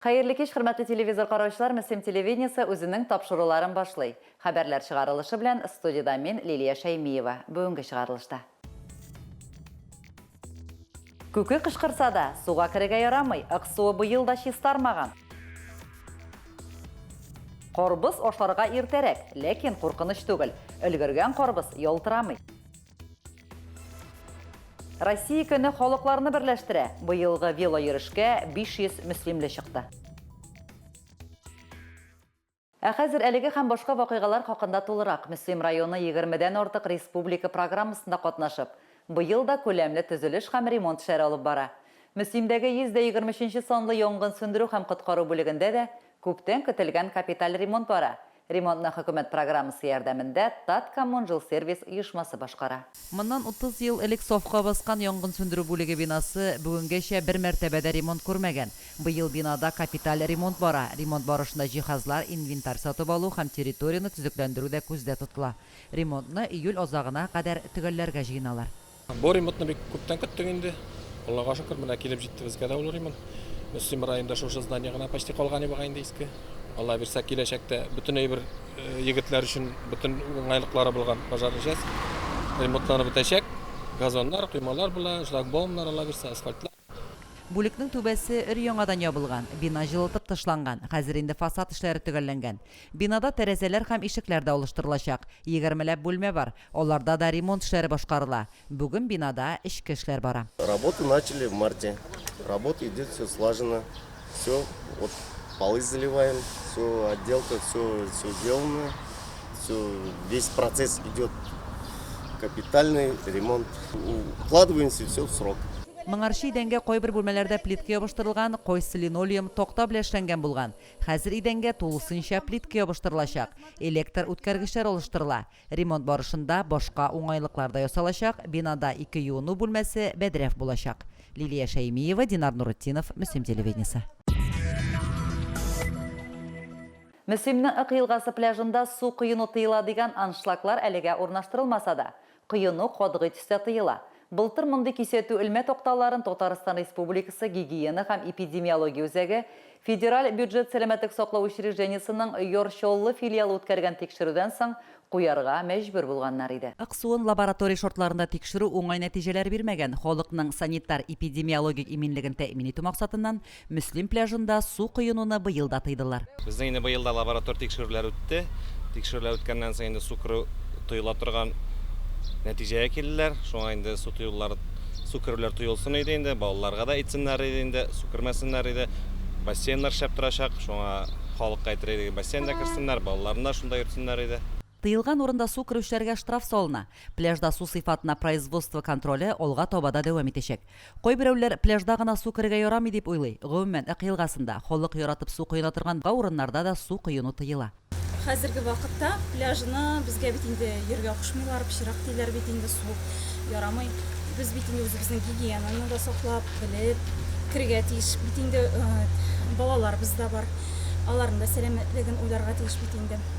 Хәерле кич, хөрмәтле телевизор караучылар, Мөслим телевидениесе үзенең тапшыруларын башлый. Хәбәрләр чыгарылышы белән студиядә мин, Лилия Шәймиева. Бүгенге чыгарылышта. Күке кычкырса да, суга керергә ярамый, Аксуы быел да чистармаган. Карбыз ашарга иртәрәк, ләкин куркыныч түгел, өлгергән карбыз ялтырамый. Россия көне халыкларны берләштерә, быелгы велойөрешкә 500 мөслимле чыкты. Ә хәзер әлеге һәм башка вакыйгалар хакында тулырак, Мөслим районы егермедән артык республика программасында катнашып, быел да күләмле төзелеш һәм ремонт эшләре алып бара. Мөслимдәге 123 нче санлы янгын сүндерү һәм коткару бүлегендә дә күптән көтелгән капиталь ремонт бара. Ремонтны хөкүмәт программасы ярдәмендә Таткоммунжилсервис оешмасы башкара. Моннан утыз ел элек сафка баскан янгын сүндерү бүлеге бинасы бүгенгәчә бер мәртәбә дә ремонт күрмәгән. Быел бинада капиталь ремонт бара. Ремонт барышында җиһазлар, инвентарь сатып алу һәм территорияне төзекләндерү дә күздә тотыла. Ремонтны июль азагына кадәр төгәлләргә җыеналар. Бу ремонтны бик күптән көттек инде. Аллага шөкер, менә килеп җитте безгә дә ул ремонт. Мөслим районында шушы здание гына почти калган иде бугай инде иске. Алла бирсә, киләчәктә бөтен әйбер Егетләр өчен бөтен уңайлыклары булган пожарный часть ремонтланып бетәчәк. Газоннар, коймалар була, шлагбаумнар, аллабирса, асфальтлар. Бүлекнең түбәсе өр-яңадан ябылган, бина җылытып тышланган, хәзер инде фасад эшләре төгәлләнгән. Бинада тәрәзәләр һәм ишекләр дә алыштырылачак. Егермеләп бүлмә бар, аларда да ремонт эшләре башкарыла. Бүген бинада эчке эшләр бара. Работы начали в марте. Работа идет все слажено. Все вот полы заливаем, все отделка, все все сделано. Все весь процесс идет капитальный ремонт. Укладываемся все в срок. Моңарчы идәнгә кайбер бүлмәләрдә плитка ябыштырылган, кайсы линолеум, такта белән эшләнгән булган. Хәзер идәнгә тулысынча плитка ябыштырылачак. Электр үткәргечләр алыштырыла. Ремонт барышында башка уңайлыклар да ясалачак, бинада ике юыну бүлмәсе, бәдрәф булачак. Лилия Шәймиева, Динар Нуретдинов, Мөслим телевидениесе. Мөслимнең Ык елгасы пляжында су коену тыела дигән аншлаглар әлегә урнаштырылмаса да, коену катгый төстә тыела. Былтыр мондый кисәтү элмә такталарын Татарстан Республикасы Гигиена һәм эпидемиология үзәге, Федераль бюджет сәламәтлек саклау учреждениесенең Яр Чаллы филиалы үткәргән тикшерүдән соң куярга мәҗбүр булганнар иде. Аксуын лаборатория шартларында тикшерү уңай нәтиҗәләр бирмәгән, халыкның санитар-эпидемиологик иминлеген тәэмин итү максатыннан, Мөслим пляжында су коенуны быел да тыйдылар. Безнең инде быел да лаборатор тикшерүләр үтте. Тикшерүләр үткәннән соң инде су керү тоела торган нәтиҗәгә килделәр. Шуңа инде су тоюлар, су керүләр тоелсын иде инде, балаларга да әйтсеннәр иде инде, су кермәсеннәр иде. Бассейннар шәп торачак, шуңа халыкка әйтер идек, бассейн да керсеннәр, балаларны да шунда йөртсеннәр иде. Тыелган урында су керүчеләргә штраф салына. Пляжда су сыйфатына производство контроле алга таба да дәвам итәчәк. Кайберәүләр пляжда гына су керергә ярамый дип уйлый. Гомумән, Ык елгасында, халык яратып су коена торган ба урыннарда да су коену тыела. Хәзерге вакытта пляжны безгә бит инде йөрергә кушмыйлар, пычырак диләр бит инде, суык, ярамый. Без бит инде үзебезнең гигиенаны да саклап, белеп керергә тиеш бит инде. Балаларыбыз да бар, аларның да сәламәтлеген уйларга тиеш бит инде.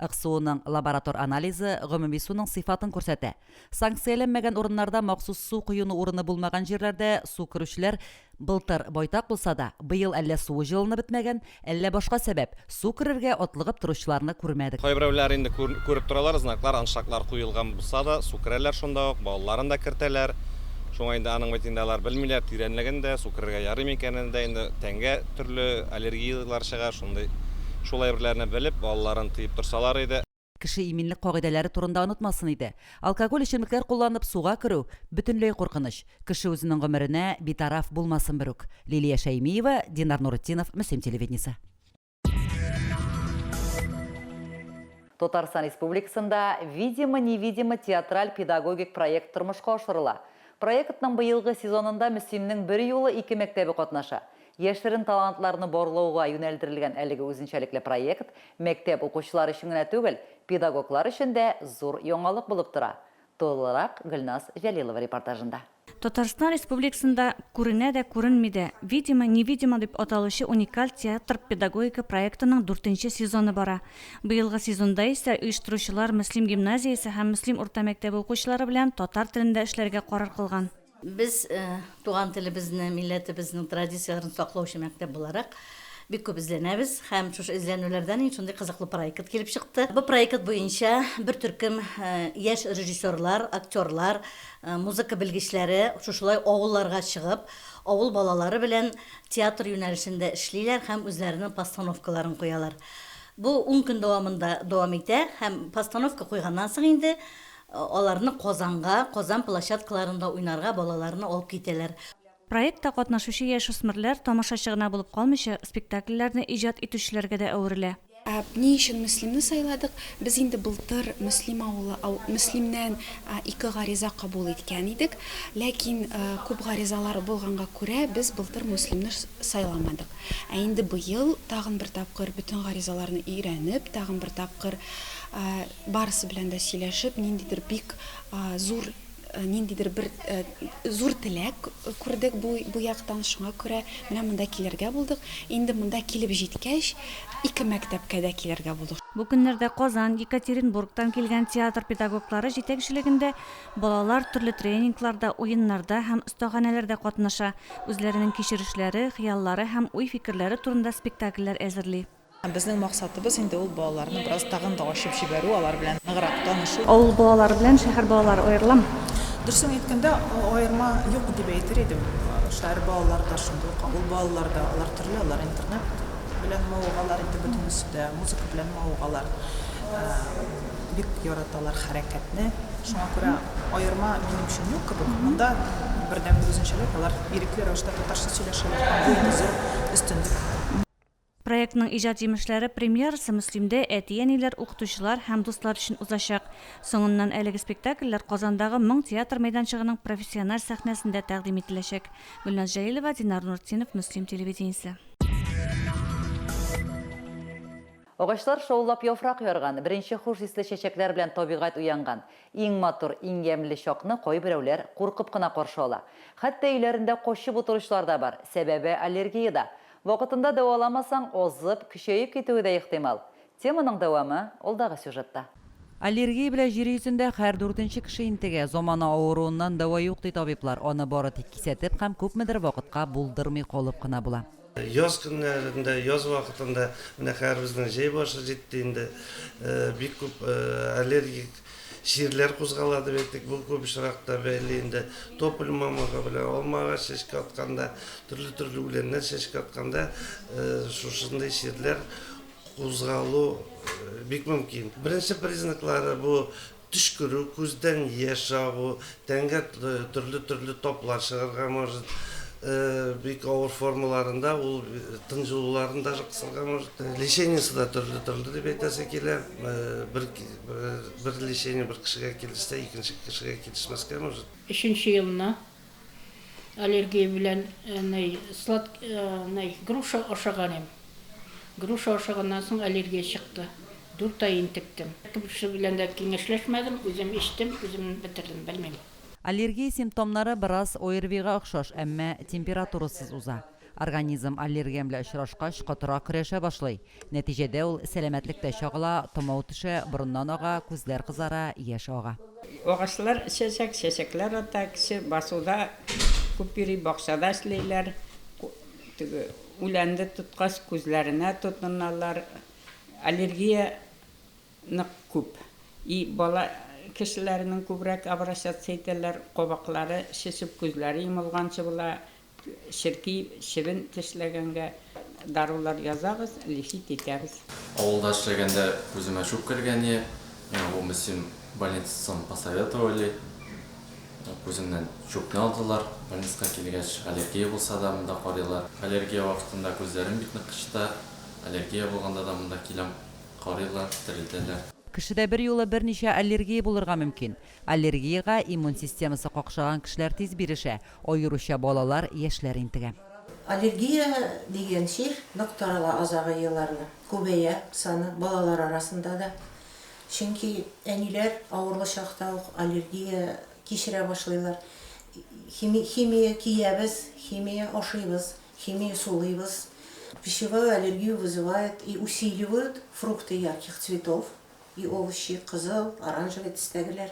Аксуының лаборатор анализы гомуми суның сыйфатын күрсәтә. Санкцияләнмәгән урыннарда махсус су коену урыны булмаган җирләрдә су керүчеләр былтыр байтак булса да, быел әллә суы җылынып бетмәгән, әллә башка сәбәп, су керергә атлыгып торучыларны күрмәдек. Кайберәүләр инде күреп торалар, знаклар, аншлаглар куелган булса да, су керәләр шунда ук, балаларын да кертәләр. Шуңа инде аның бит инде алар белмиләр, тирәнлеген дә, су керергә ярый микәнен дә инде тәнгә. төрле аллергияләр чыга, шундый, шул әйберләрне белеп, балаларын тыеп торсалар иде. Кеше иминлек кагыйдәләре турында онытмасын иде. Алкоголь эчемлекләр кулланып суга керү, бөтенләй куркыныч. Кеше үзенең гомеренә битараф булмасын берүк. Лилия Шәймиева, Динар Нуретдинов, Мөслим телевидениесе. Татарстан Республикасында Видимо, невидимо театраль-педагогик проект тормышка ашырыла. Проектның быелгы сезонында Мөслимнең берьюлы ике мәктәбе катнаша. Яшерен талантларны барлауга юнәлдерелгән әлеге үзенчәлекле проект мәктәп укучылары өчен генә түгел, педагоглар өчен дә зур яңалык булып тора. Тулырак Гөлназ Җәлилова репортажында. Татарстан Республикасында күренә дә күренми дә, видимо, невидимо дип аталучы уникаль театр-педагогика проектының дүртенче сезоны бара. Быелгы сезонда исә оештыручылар Мөслим гимназиясе һәм Мөслим урта мәктәбе укучылары белән татар телендә эшләргә карар кылган. Без туган телебезне, милләтебезнең традицияләрен саклаучы мәктәп буларак, бик күп эзләнәбез һәм шушы эзләнүләрдән инде шундый кызыклы проект килеп чыкты. Бу проект буенча бер төркем яшь режиссерлар, актерлар, музыка белгечләре шушылай авылларга чыгып, авыл балалары белән театр юнәлешендә эшлиләр һәм үзләренең постановкаларын куялар. Бу ун көн дәвамында дәвам итә һәм постановка куйганнан соң инде Аларны Казанга, Казан площадкаларында уйнарга балаларны алып китәләр. Проектта катнашучы яшүсмерләр тамашачы гына булып калмыйча, спектакльләрне иҗат итүчеләргә дә әверелә. Ни өчен Мөслимне сайладык? Без инде былтыр Мөслим авылы Мөслимнән ике гариза кабул иткән идек. Ләкин күп гаризалар булганга күрә, без былтыр Мөслимне сайламадык. Ә инде быел тагын бер тапкыр бөтен гаризаларны өйрәнеп, тагын бер тапкыр Барысы белән дә сөйләшеп, ниндидер бик зур, ниндидер бер зур теләк күрдек бу, бу яктан, шуңа күрә менә монда килергә булдык. Инде монда килеп җиткәч, ике мәктәпкә дә килергә булдык. Бу көннәрдә Казан, Екатеринбургтан килгән театр педагоглары җитәкчелегендә балалар төрле тренингларда, уеннарда һәм остаханәләрдә катнаша, үзләренең кичерешләре, хыяллары һәм уй-фикерләре турында спектакльләр әзерли. Безнең максатыбыз инде ул балаларны бераз тагын да ачып җибәрү, алар белән ныграк танышу. Авыл балалары белән шәһәр балалары аерыламы? Дөресен әйткәндә, аерма юк дип әйтер идем. Шәһәр балалары да шундый ук, авыл балалары да, алар төрле, алар интернет белән мавыгалар инде бөтенесе дә, музыка белән мавыгалар. Бик яраталар хәрәкәтне. Шуңа күрә аерма минем өчен юк кебек. Монда бердәнбер үзенчәлек, алар ирекле рәвештә татарча сөйләшәләр һәм бу инде зур өстенлек. Проектның иҗат җимешләре премьерасы Мөслимдә әти-әниләр, укытучылар һәм дуслар өчен узачак. Соңыннан әлеге спектакльләр Казандагы Моң театр мәйданчыгының профессиональ сәхнәсендә тәкъдим ителәчәк. Гөлназ Җәлилова, Динар Нуртдинов, Мөслим телевидениесе. Агачлар шаулап яфрак ярган, беренче хуш исле чәчәкләр белән табигать уянган. Иң матур, иң ямьле чакны кайберәүләр куркып кына каршы ала. Хәтта өйләрендә качып утыручылар да бар, сәбәбе аллергия да. Вакытында дәваламасаң, азып, көчәеп китүе дә ихтимал. Теманың дәвамы алдагы сюжетта. Аллергия белән җир йөзендә һәр дүртенче кеше интегә. Замана авыруыннан дәва юк, ди табиблар, аны бары тик кисәтеп һәм күпмедер вакытка булдырмый калып кына була. Яз көннәрендә, яз вакытында, менә хәзер безнең җәй башы җитте инде, бик күп аллергик Җирләр кузгала дип әйттек, бу күп очракта бәйле инде тополь мамыгы белән алма агач чәчкә атканда, төрле-төрле үләннәр чәчкә атканда шушындый җирләр кузгалу бик мөмкин. Беренче признаклары бу төчкерү, күздән яшь агу, тәнгә төрле-төрле таплар чыгарга может, бик авыр формаларында ул тын җылуларын даже кысырга может. Лечениесе дә төрле-төрле дип әйтәсе килә. Бер Бер лечение бер кешегә килешсә, икенче кешегә килешмәскә может. Өченче елына аллергия белән ней слад ней груша ашаган им. Груша ашаганнан соң аллергия чыкты. Дүрт ай интектем. Кемче белән дә киңәшләшмәдем, үзем эчтем, үзем бетердем, белмим. Аллергия симптомнары бераз ОРВИга охшаш, әмма температурасыз уза. Организм аллергия белән очрашкач, котыра көрәшә башлый. Нәтиҗәдә ул сәламәтлек тә чагыла, томау төшә, борыннан ага, күзләр кызара, яшь ага. Агачлар чәчәк, чәчәкләр ата, кеше басуда күп йөри, бакчада эшлиләр, теге үләнне тоткач, күзләренә тотыналар. Аллергия нык күп. И бала кешеләренең күбрәк обращаться итәләр, кабаклары шешеп, күзләре йомылганчы була, Черки чебен тешләгәнгә дарулар язабыз, лифит итәбез. Авылда эшләгәндә күземә чүп кергәне, миңа бу Мөслим больницасын посоветовали. Күземнән чүпне алдылар. Больниска килгәч, аллергия булса да монда карыйлар. Аллергия вакытында күзләрем бик нык кычыта. Аллергия булганда да монда киләм, карыйлар, терелтәләр. Кешедә берьюлы берничә аллергия булырга мөмкин. Аллергиягә иммун системасы какшаган кешеләр тиз бирешә, аеруча балалар, яшьләр интегә. Аллергия дигән чир нык тарала азагы елларны, күбәя саны балалар арасында да. Чөнки әниләр авырлы чакта ук аллергия кичерә башлыйлар. Хими химия киябез, химия ашыйбыз, химия сулыйбыз. Пищевую аллергию вызывают и усиливают фрукты ярких цветов, И ул чи кызыл, оранжевый төстәгеләр.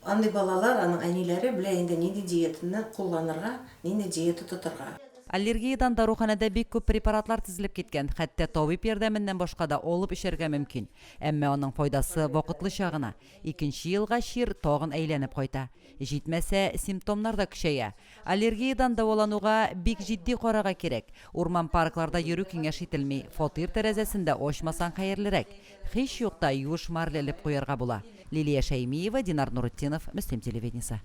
Андый балалар, аның әниләре белә инде нинди диетаны кулланырга, нинди диета тотырга. Аллергиядән даруханәдә бик күп препаратлар тезелеп киткән, хәтта табиб ярдәменнән башка да алып эчәргә мөмкин. Әмма аның файдасы вакытлыча гына. Икенче елга чир тагын әйләнеп кайта. Җитмәсә, симптомнар да көчәя. Аллергиядән дәвалануга бик җитди карарга кирәк. Урман-паркларда йөрү киңәш ителми, фатир тәрәзәсен дә ачмасаң хәерлерәк. Һич юкта юеш марля элеп куярга була. Лилия Шәймиева, Динар Нуретдинов, Мөслим телевидениесе.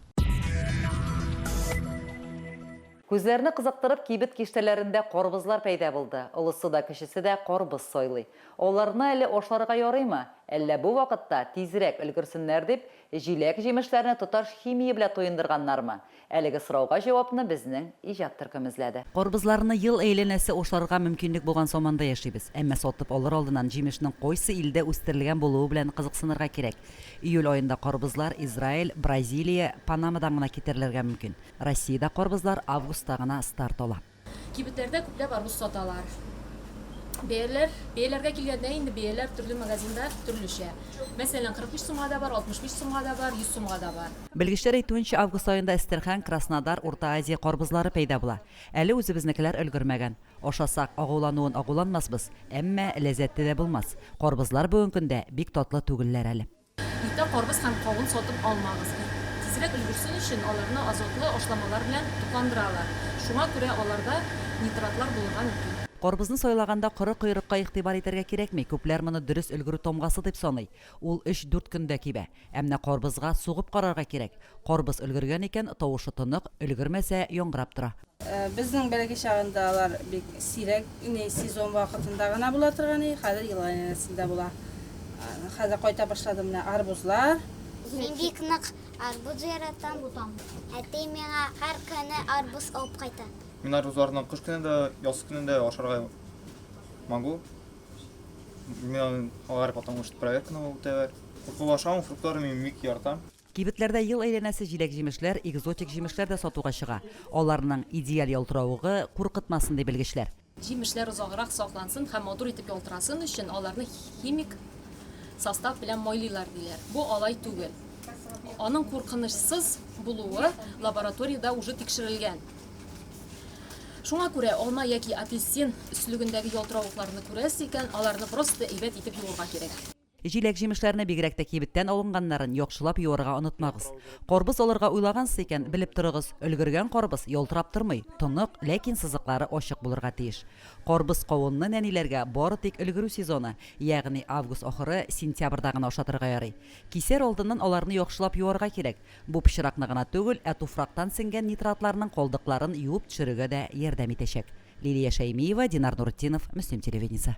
Күзләрне кызыктырып кибет киштәләрендә карбызлар пәйда булды, олысы да, кечесе дә карбыз сайлый. Аларны әле ашарга ярыймы, әллә бу вакытта, тизрәк өлгерсеннәр дип, Җиләк-җимешләрне тоташ химия белән туендырганнармы? Әлеге сорауга җавапны безнең иҗат төркеме эзләде. Карбызларны ел әйләнәсе ашарга мөмкинлек булган заманда яшибез. Әмма сатып алыр алдыннан җимешнең кайсы илдә үстерелгән булуы белән кызыксынырга кирәк. Июль аенда карбызлар Израиль, Бразилия, Панамадан гына китерелергә мөмкин. Россиядә карбызлар августта гына старт ала. Кибетләрдә күпләп арбуз саталар. Бәяләр, бәяләргә килгәндә инде бәяләр төрле магазинда төрлечә. Мәсәлән, 43 сумга да бар, 65 сумга да бар, 100 сумга да бар. Белгечләр әйтүенчә, август аенда Әстерхан, Краснодар, Урта Азия карбузлары пәйда була. Әле үзебезнекеләр өлгермәгән. Ашасак, агулануын агуланмасбыз, әмма ләззәтле дә булмас. Карбузлар бүген көндә бик татлы түгелләр әле. Иртә карбыз һәм кавын сатып алмагыз. Тизрәк өлгерсен өчен аларны азотлы ашламалар белән тукландыралар, шуңа күрә аларда нитратлар булырга мөмкин. Карбызны сайлаганда коры койрыкка игътибар итәргә кирәкми, күпләр моны дөрес өлгерү тамгасы дип саный. Ул өч-дүрт көндә кибә. Ә менә карбызга сугып карарга кирәк. Карбыз өлгергән икән, тавышы тонык, өлгермәсә, яңгырап тора. Безнең бәләкәй чагында алар бик сирәк иней сезон вакытында гына була торган и, хәзер ел әйләнәсендә була. Хәзер кайта башлады менә арбузлар. Мин бик нык арбуз яратам. Әти миңа һәр көне арбуз алып кайта. Мин арбузларны кыш көне дә, яз көне дә ашарга могу. Миңа алар потом проверканы үтәләр. Куркып ашамыйм, фруктларны мин бик яратам. Кибетләрдә ел әйләнәсе җиләк-җимешләр, экзотик җимешләр дә сатуга чыга. Аларның идеаль ялтыравыгы куркытмасын, ди белгечләр. Җимешләр озаграк саклансын һәм матур итеп ялтырасын өчен аларны химик состав белән майлыйлар, диләр. Бу алай түгел. Аның куркынычсыз булуы лабораториядә уже тикшерелгән. Шуңа күрә алма яки апельсин өслегендәге ялтыравыкларны күрәсе икән, аларны просто әйбәт итеп юырга кирәк. Җиләк-җимешләрне, бигрәк тә кибеттән алынганнарын, яхшылап юарга онытмагыз. Карбыз алырга уйлагансыз икән, белеп торыгыз, өлгергән карбыз ялтырап тормый, тонык, ләкин сызыклары ачык булырга тиеш. Карбыз-кавынны нәниләргә бары тик өлгерү сезоны, ягъни август ахыры, сентябрьдә генә ашатырга ярый. Кисәр алдыннан аларны яхшылап юарга кирәк. Бу пычракны гына түгел, ә туфрактан сеңгән нитратларның калдыкларын юып төшерергә дә ярдәм итәчәк. Лилия Шәймиева, Динар Нуретдинов, Мөслим телевидениесе.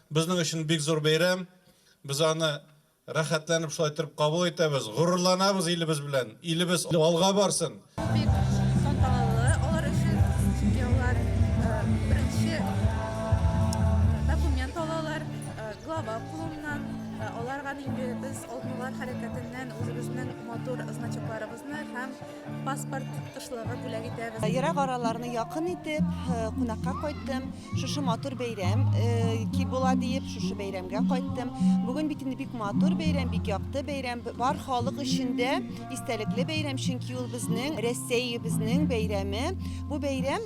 Безнең өчен бик зур бәйрәм. Без аны рәхәтләнеп шулай торып кабул итәбез. Горурланабыз илебез белән. Илебез алга барсын! Бу бик тантаналы алар өчен, чөнки алар беренче документ алалар глава кулыннан. Аларга нинди без Алтмыйлар хәрәкәтеннән үзебезнең матур значокларыбызны һәм. Паспорт кошларга бүләк итәбез. Ерак араларны якын итеп, кунакка кайттым. Шушы матур бәйрәм ки була диеп, шушы бәйрәмгә кайттым. Бүген бит инде бик матур бәйрәм, бик якты бәйрәм. Бар халык өчен дә истәлекле бәйрәм, чөнки ул безнең Рәсәебезнең бәйрәме. Бу бәйрәм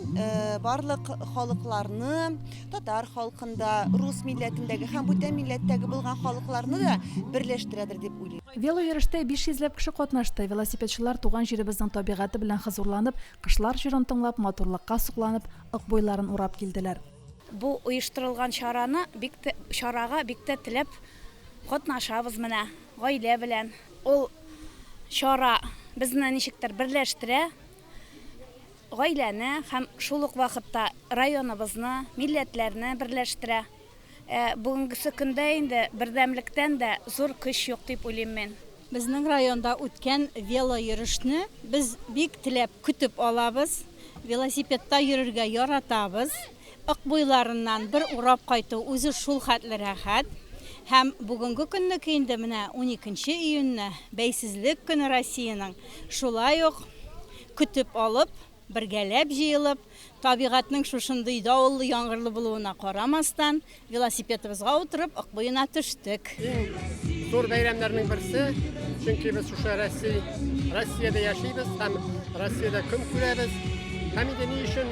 барлык халыкларны, татар халкын да, рус милләтендәге һәм бүтән милләттәге булган халыкларны да берләштерәдер дип уйлыйм. Велойөрештә 500 ләп кеше катнашты. Велосипедчылар туган җиребезнең табигате белән хозурланып, кышлар җырын тыңлап, матурлыкка сокланып, Ык буйларын урап килделәр. Бу оештырылган чараны бик тә чарага бик тә теләп катнашабыз менә гаилә белән. Ул чара безне ничектер берләштерә. Гаиләне һәм шул ук вакытта районыбызны, милләтләрне берләштерә. Ә бүгенгесе көндә инде бердәмлектән дә зур көч юк дип уйлыйм мин. Безнең районда үткән велойөрешне без бик теләп көтеп алабыз. Велосипедта йөрергә яратабыз. Ык буйларыннан бер урап кайту үзе шул хәтле рәхәт. Һәм бүгенге көннеке инде менә уникенче июньне, Бәйсезлек көне Россиянең, шулай ук Көтеп алып, бергәләп җыелып, табигатьнең шушындый давыллы-яңгырлы булуына карамастан, велосипедыбызга утырып, Ык буена төштек. Иң зур бәйрәмнәрнең берсе, чөнки без шушы Россия, Россиядә яшибез һәм Россиядә көн күрәбез. Һәм инде ни өчен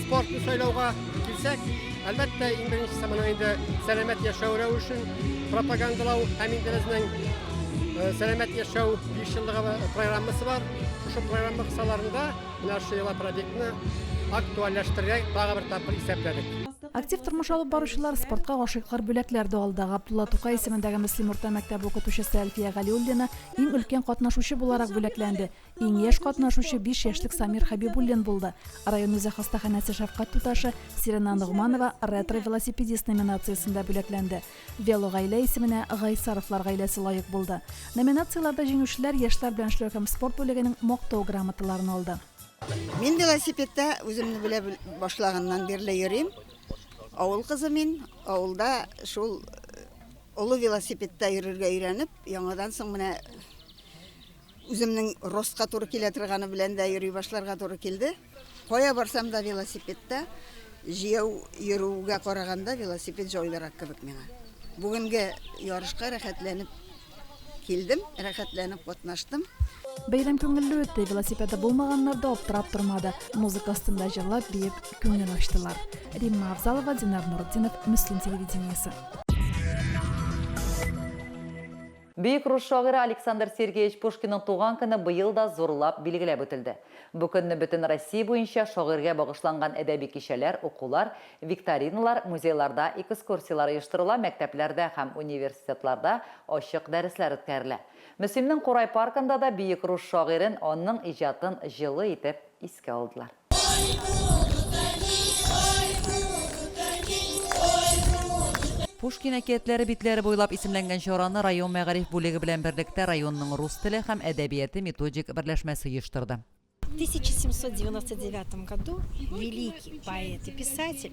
спортны сайлауга килсәк, әлбәттә, иң беренчесе моның инде сәламәт яшәү рәвешен пропагандалау һәм инде безнең э, сәламәт яшәү 5 еллыгы программасы бар. Шушы программа кысаларында менә шушы йола проектны актуальләштерергә тагы бер тапкыр исәпләдек. Актив тормыш алып баручылар, спортка гашыйклар бүләкләр дә алды. Габдулла Тукай исемендәге Мөслим урта мәктәбе укытучысы Әлфия Галиуллина иң өлкән катнашучы буларак бүләкләнде. Иң яшь катнашучы биш яшьлек Самир Хәбибуллин булды. Район үзе хастаханәсе шәфкать туташы Сирена Ногманова ретро-велосипедист номинациясендә бүләкләнде. Велогаилә исеменә Гайсаровлар гаиләсе лаек булды. Номинацияләрдә җиңүчеләр яшьләр белән эшләү һәм спорт бүлегенең Мактау грамоталарын алды. Мин велосипедта үземне белә башлаганнан бирле йөрим. Авыл кызы мин, авылда шул олы велосипедта йөрергә өйрәнеп, яңадан соң менә үземнең ростка туры килә торганы белән дә йөри башларга туры килде. Кая барсам да велосипедта җияү йөрүгә караганда велосипед җайлырак кебек миңа. Бүгенге ярышка рәхәтләнеп килдем, рәхәтләнеп катнаштым. Бәйрәм күңелле үтте, велосипеды булмаганнар да аптырап тормады. Музыка астында җырлап, биеп, күңел ачтылар. Римма Авзалова, Динар Нуртдинов, Мөслим телевидениесе. Бөек рус шагыйре Александр Сергеевич Пушкинның туган көне быел да зурлап билгеләп үтелде. Бу көнне бөтен Россия буенча шагыйрьгә багышланган әдәби кичәләр, укулар, викториналар, музейларда экскурсияләр оештырыла, мәктәпләрдә һәм университетларда ачык дәресләр үткәрелә. Мөслимнең Курай паркында да бөек рус шагыйрен, анның иҗатын җылы итеп искә алдылар. Пушкин әкиятләре битләре буйлап исемләнгән чараны район мәгариф бүлеге белән берлектә районның рус теле һәм әдәбияте методик берләшмәсе оештырды. В тысяча семьсот девяносто девятом году великий поэт и писатель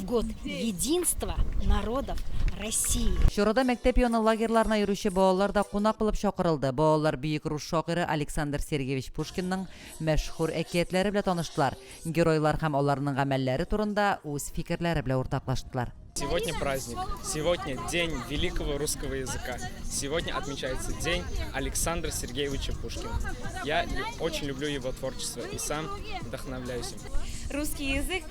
Год единства народов России. Чарада мәктәп яны лагерьларына йөрүче балалар да кунак булып чакырылды. Балалар бөек рус шагыйре Александр Сергеевич Пушкинның мәшһүр әкиятләре белә таныштылар, геройлар һәм аларның гамәлләре турында үз фикерләре белә уртаклаштылар. Сегодня праздник. Сегодня день великого русского языка. Сегодня отмечается день Александра Сергеевича Пушкина. Я очень люблю его творчество и сам вдохновляюсь им. Русский язык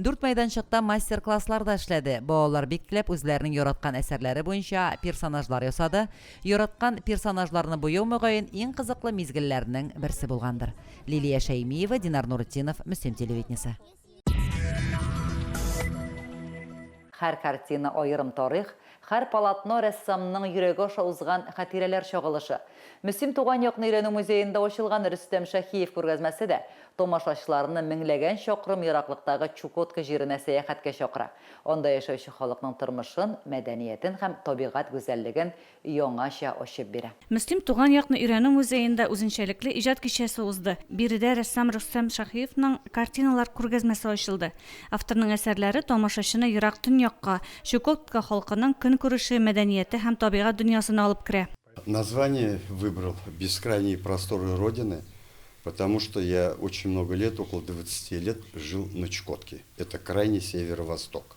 Дүрт мәйданчыкта мастер-класслар да эшләде, балалар бик теләп үзләренең яраткан әсәрләре буенча персонажлар ясады, яраткан персонажларны буяу мөгаен иң кызыклы мизгелләрнең берсе булгандыр. Лилия Шәймиева, Динар Нуретдинов, Мөслим телевидениесе. Һәр картина аерым тарих, Һәр полотно рәссамның йөрәге аша узган хатирәләр чагылышы. Мөслим туган якны өйрәнү музеенда ачылган Рөстәм Шәһиев күргәзмәсе дә тамашачыларны меңләгән чакрым ераклыктагы Чукотка җиренә сәяхәткә чакыра, анда яшәүче халыкның тормышын, мәдәниятен һәм табигать гүзәллеген яңача ачып бирә. Мөслим туган якны өйрәнү музеенда үзенчәлекле иҗат кичәсе узды. Биредә рәссам Рөстәм Шаһиевның картиналар күргәзмәсе ачылды. Авторның әсәрләре тамашачыны ерак Төньякка, Чукотка халкының көнкүреше, мәдәнияте һәм табигать дөньясына алып керә. Название выбрал бескрайние просторы родины потому что я очень много лет около двадцати лет жил на Чукотке это крайний северо-восток.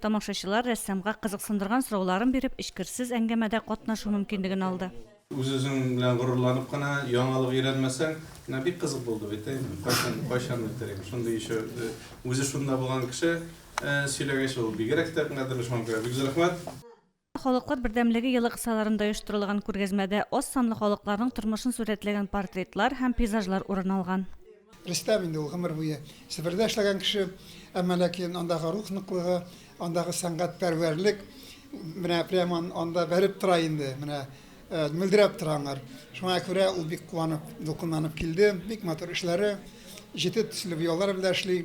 Тамашачылар рәссамга кызыксындырган сорауларын биреп, эчкерсез әңгәмәдә катнашу мөмкинлеген алды. Үз-үзең белән горурланып кына яңалык өйрәнмәсәң, менә бик кызык булды бит, әй, кайчан, кайчан бетерим, шундый ещё үзе шунда булган кеше сөйләгәч, ул бигрәк тә кадерле шуңа күрә бик зур рәхмәт. Халыклар бердәмлеге елы кысаларында оештырылган күргәзмәдә аз санлы халыкларның тормышын сурәтләгән портретлар һәм пейзажлар урын алган. Рөстәм инде ул гомер буе Себердә эшләгән кеше, әмма ләкин андагы рух ныклыгы, андагы сәнгатьпәрвәрлек менә прямо анда бәреп тора инде, менә мөлдерәп тора аңар. Шуңа күрә ул бик куанып, дулкынланып килде. Бик матур эшләре, җете төсле буяулар белән эшли.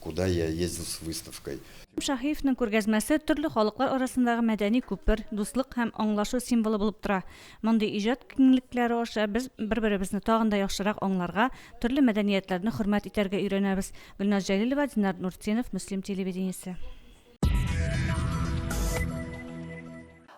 Куда я ездил с выставкой. Шаһиевның күргәзмәсе төрле халыклар арасындагы мәдәни күпер, дуслык һәм аңлашу символы булып тора. Мондый иҗат киңлекләре аша без бер-беребезне тагын да яхшырак аңларга, төрле мәдәниятләрне хөрмәт итәргә өйрәнәбез. Гөлназ Җәлилова, Динар Нуртдинов, Мөслим телевидениесе.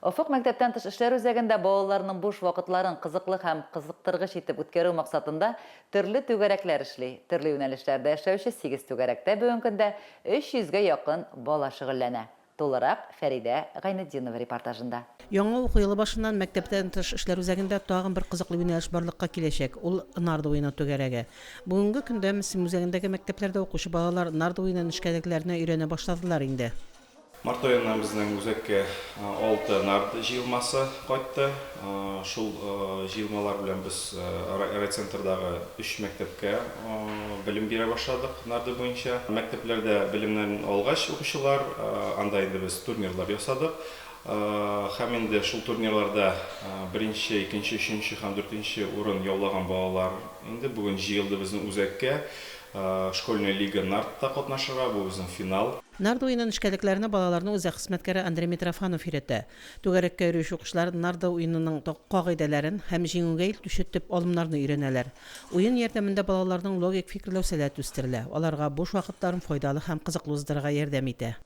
Офык мәктәптән тыш эшләр үзәгендә балаларның буш вакытларын кызыклы һәм кызыктыргыч итеп үткәрү максатында төрле түгәрәкләр эшли. Төрле юнәлешләрдә эшләүче сигез түгәрәктә бүген көндә 300 гә якын бала шөгыльләнә. Тулырак Фәридә Гайнетдинова репортажында. Яңа уку елы башыннан мәктәптән тыш эшләр үзәгендә тагын бер кызыклы юнәлеш барлыкка киләчәк, ул Нарда уены түгәрәге. Бүгенге көндә Мсим үзәгендәге мәктәпләрдә укучы балалар нарда уены нечкәлекләренә өйрәнә башладылар инде. Март аеннан безнең үзәккә алты нарда җыелмасы кайтты. Шул җыелмалар белән без райцентрдагы өч мәктәпкә белем бирә башладык нарда буенча. Мәктәпләрдә белемнәрен алгач укучылар, анда инде без турнирлар ясадык. Һәм инде шул турнирларда беренче, икенче, өченче һәм дүртенче урын яулаган балалар инде бүген җыелды безнең үзәккә Школьная лига нардта катнашырга, бу безнең финал. Нард уены нечкәлекләренә балаларны үзәк хезмәткәре Андрей Митрофанов өйрәтә. Түгәрәккә йөрүче укучылар нард уенының кагыйдәләрен һәм җиңүгә илтүче төп алымнарны өйрәнәләр. Уен ярдәмендә балаларның логик фикерләү сәләте үстерелә, аларга буш вакытларын файдалы һәм кызыклы уздырырга ярдәм итә.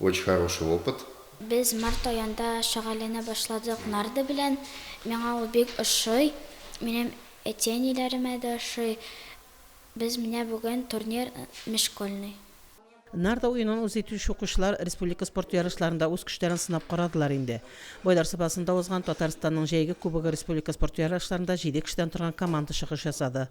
Очень хороший опыт. Без март аенда шөгыльләнә башладык нарды белән. Миңа ул бик ошый. Минем әти-әниләремә дә ошый. Без менә бүген турнир Межшкольный. Нарда уенын үз итүче укучылар республика спорт ярышларында үз көчләрен сынап карадылар инде. Байлар Сабасында узган Татарстанның җәйге кубогы республика спорт ярышларында җиде кешедән торган команда чыгыш ясады.